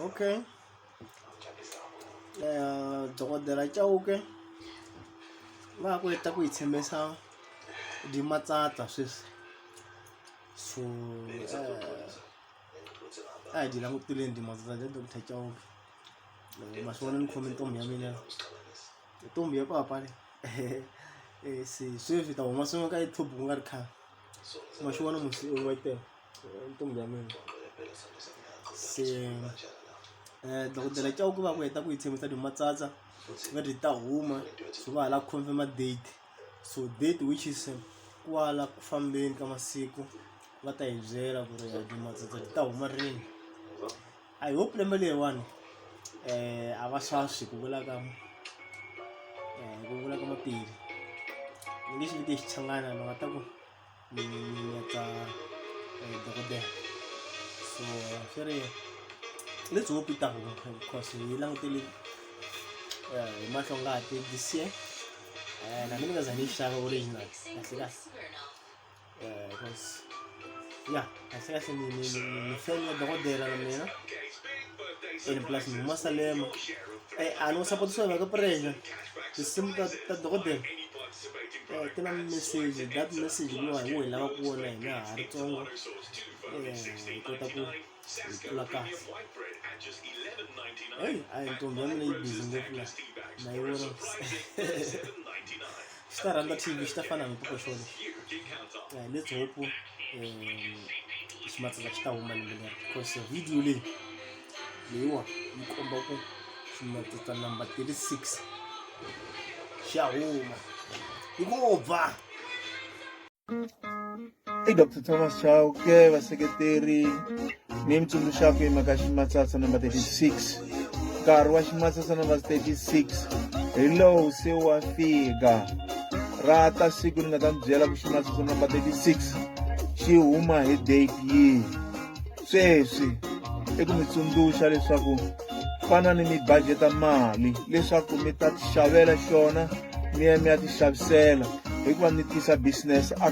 okay dokodela chauke va ku heta ku yi tshembisa di matsatsa sweswi so a hi di languteleni di matsatsa ja doctor chauke ma swi vona ni khome ntombi ya mina ntombi ya papa le se sweswi ta huma swin'we ka youtube ku nga ri khale ma swi vona musi u wa tele se dokodela cauke va ku heta ku yi tshembisa dyo matsatsa va ri ta huma so va ha la confirm date so date which is kwala ku fambeni ka masiku va ta hi byela ku ri dyo matsatsa ri ta huma rini i hope lembe leriwani um a va swaswi ku vula ka ku vula ka mapiri ni nge xi vite xichangana ni nga ta ku ni ya ka eh, dokodela so swi ri let's hope yi ta huma because hi langutele eh, hi mahlo ngati this year eh, na mina ni nga za ni yi xava original kahle kahle because ya Sasa ni, ni, ni, ni fan ya dokodela na mina and plus ni masalema eh a no support swona ka pressure tinsimu ta ta dokodela eh ti na message that message leyi hi wena lava ku wona hina ha ri tsongo eh hi kota ku hi tlula kahle hey a hi ntombi ya mina yi busy ngopfu la na yi vona swi ta rhandza team swi ta fana na tiko xona eh, let's hope eh, ximatsela xi ta huma lembe leri because video leyi leyiwa yi komba ku ximatsela number 36 xa huma yi ngo ba i dr thomas chauke vaseketeri ni mitsundzuxako hi mhaka ximatsatsa number 36 nkarhi wa ximatsatsa number 36 hi lowu se wa fika ra ta siku ni nga ta mi byela ku ximatsatsa number 36 xi huma hi date yihi sweswi i ku mi tsundzuxa leswaku fanani mi bajeta mali leswaku mi ta ti xavela xona mi ya mi ya ti xavisela hikuva mi tisa business a